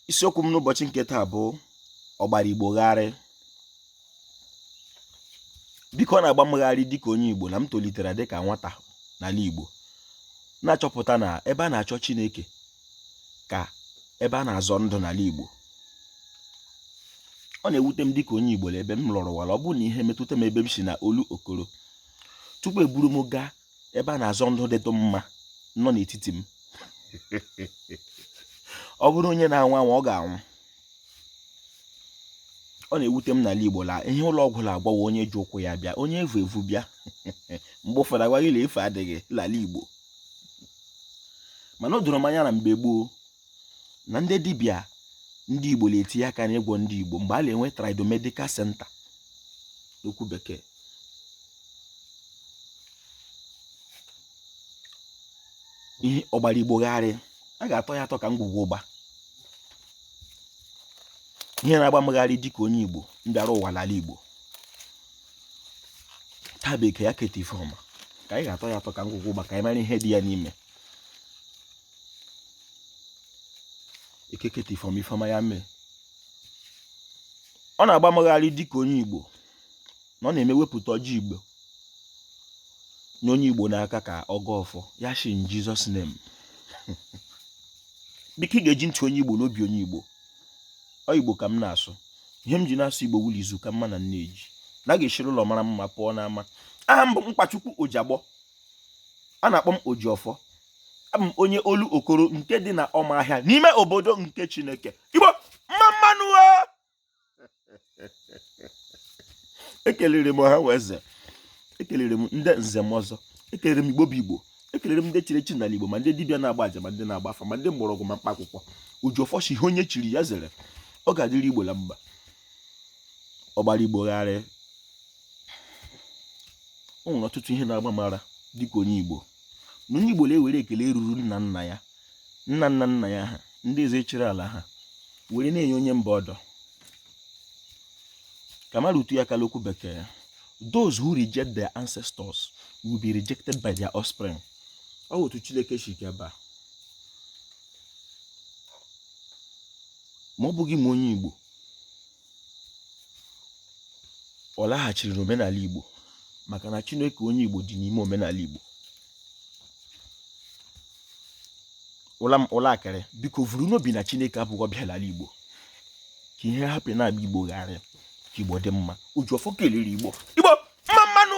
isiokwu m n'ụbọchị nke taa bụ ọgbara igbo gharị biko ọ na-agba m gharị dịka onye igbo na m tolitere dịka nwata n'ala igbo na-achọpụta na ebe a na-achọ chineke ka ebe a na-azọ ndụ n'ala igbo ọ na-ewute m dịka onye igbo ebe m lọrọ ụwa la ọ bụrụ na ihe metụta m ebe m si na olokoro tupu eburu m gaa ebe a na-azọ ndụ dịtụ mma nọ n'etiti m ọ bụrụ onye na-anwụ anwụ ọ ga-anwụ ọ na-ewute m n'ala Igbo la ihe ụlọ ọgwụ na-agwọ wụ onye ji ụkwụ ya bịa onye e vu evu bịa mgbe ụfọdụ a gwọọ gị n'efu adịghị n'ala Igbo mana o doro m anya na mgbe gboo na ndị dibịa ndị Igbo na-etinye aka n'ịgwọ ndị Igbo mgbe a na-enwe tradomedical center n'okwu bekee ihe ọgbara Igbo gharị a ga-atọ ya atọ ka ngwugwu ụgba ihe na-agba m gharị dịka onye Igbo m bịara ụwa n'ala Igbo taa bekee ya keta ife ọma ka anyị ga-atọ ya atọ ka ngwugwu ụgba ka anyị mara ihe dị ya n'ime eke keta ife ọma ife ọma ya mee ọ na-agba m gharị dịka onye igbo na ọ na-eme e wepụta ọjị igbo nye onye igbo n'aka ka ọ gọọ ọfọ ya shi in Jesus name biko ị ga-eji ntị onye igbo na obi onye igbo ọ igbo ka m na-asụ ihe m ji na-asụ igbo wụ la izu ka mma na nne ji na a ga-esiri ụlọ mara mma pụọ n'ama aha m bụ mkpachukwu ojagbọ a na-akpọ m Ojiọfọ abụ m onye olokoro nke dị na ọmahịa n'ime obodo nke Chineke Igbo mma mma nụ ekelere m ha wụ eze ekelere m ndị nze na ọzọ ekelere m igbo bụ igbo ekelere m ndị chiri echi n'ala igbo ma ndị dibịa na-agba aja ma ndị na-agba afa ma ndị mgbọrọgwụ ma mkpa akwụkwọ Ojiọfọ sị ihe onye chiri ya zere ọ ga-adịrị igbo na mma ọgbara igbo gharị o nwere ọtụtụ ihe na-agba m ara dịka onye Igbo na onye Igbo na-ewere ekele ruru nna nna ya nna nna nna ya ha ndị eze chịrị ala ha were na-enye onye mba ọdọ ka m rụtụ ya aka la okwu bekee those who reject their ancestors will be rejected by their offspring ọ otu Chineke si gaba ma ọ bụghị ma onye Igbo ọ laghachiri n'omenala Igbo maka na Chineke onye Igbo dị n'ime omenala Igbo unu la-ekiri biko vuru n'obi na Chineke abụghị ọbịa n'ala Igbo ka ihe hapụ na-agba Igbo gharị ka Igbo dị mma Ojiọfọ kelere Igbo Igbo mma mma nụ